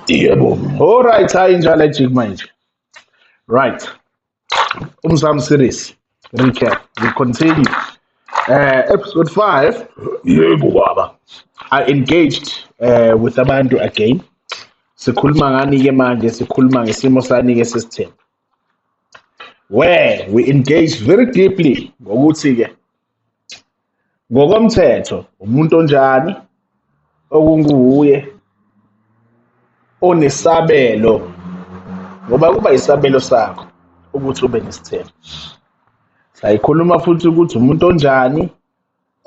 yebo all right hayi njalo ajik manje right umzam series recap we continue uh, episode 5 yebo baba i engaged uh, with abantu again sikhuluma ngani ke manje sikhuluma ngesimo sani ke sesithembu where we engage very deeply ngokuthi ke Ngokomthetho umuntu onjani okunguye onesabelo ngoba kuba isabelo sakho ukuthi ube nesithelo. Sayikhuluma futhi ukuthi umuntu onjani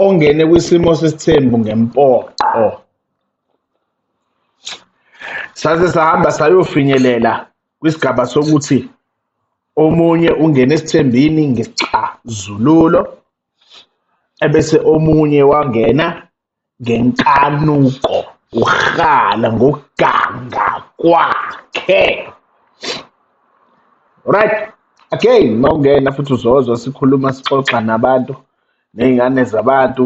ongene kwisimo sesithembu ngempoqo. Saze sahamba sayofinyelela kwisigaba sokuthi omunye ungena esithembini ngesixazululo ebese omunye wangena ngenkanuko uhala ngokuganga kwakhe right again mawungena futhi uzozwa sikhuluma sixoxa nabantu nezingane zabantu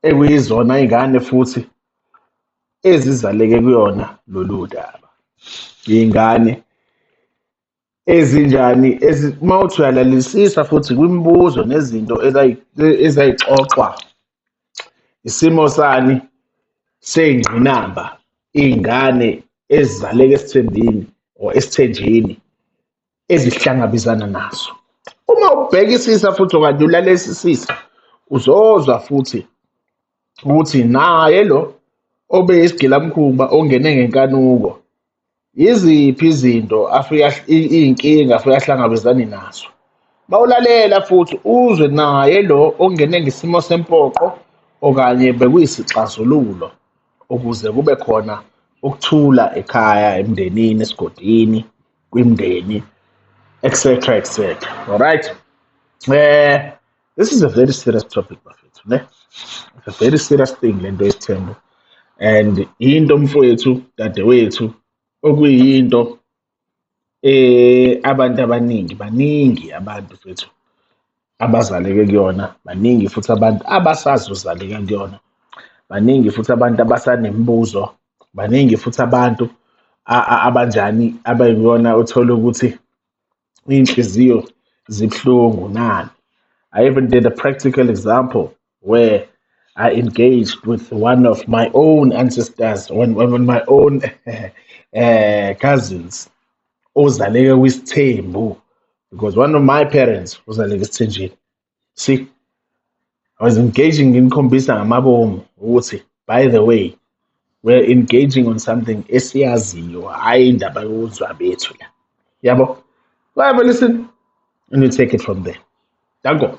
ekuyizona izingane futhi ezizaleke kuyona lolu daba iy'ngane ezinjani uma uthi uyalalelisisa futhi kwimibuzo nezinto ezayixoxwa isimo sani seyingqinamba iy'ngane ezizaleke esithembini or esithenjini ezihlangabezana nazo uma ubhekisisa futhi okanye ulalesisisa uzozwa futhi ukuthi naye lo obe isigilamkhuba ongene ngenkanuko yiziphi izinto afika iy'nkinga afika ahlangabezane nazo bawulalela futhi uzwe naye lo ongene ngesimo sempoqo okanye bekuyisixazululo ukuze kube khona ukuthula ekhaya emndenini esigodini kwimndeni etc etc alright eh this is a very serious topic bafethu ne it's a very serious thing lento yesithembu and into mfowethu dadewethu okuyinto eh abantu abaningi baningi abantu fethu abazaleke kuyona baningi futhi abantu abasazozaleka kuyona baningi futhi abantu abasanemibuzo baningi futhi abantu abanjani abayibona uthole ukuthi iy'nhliziyo zibuhlungu nani. I even did a practical example where I engaged with one of my own ancestors, one, one of my own uh, cousins, ozaleke kwisithembu because one of my parents uzaleke esithenjini see i was engaging nginikhombisa ngamabomu ukuthi by the way we're engaging on something esiyaziyo hhayi indaba yokuzwa bethu la yabo whatever listen and you take it from there danko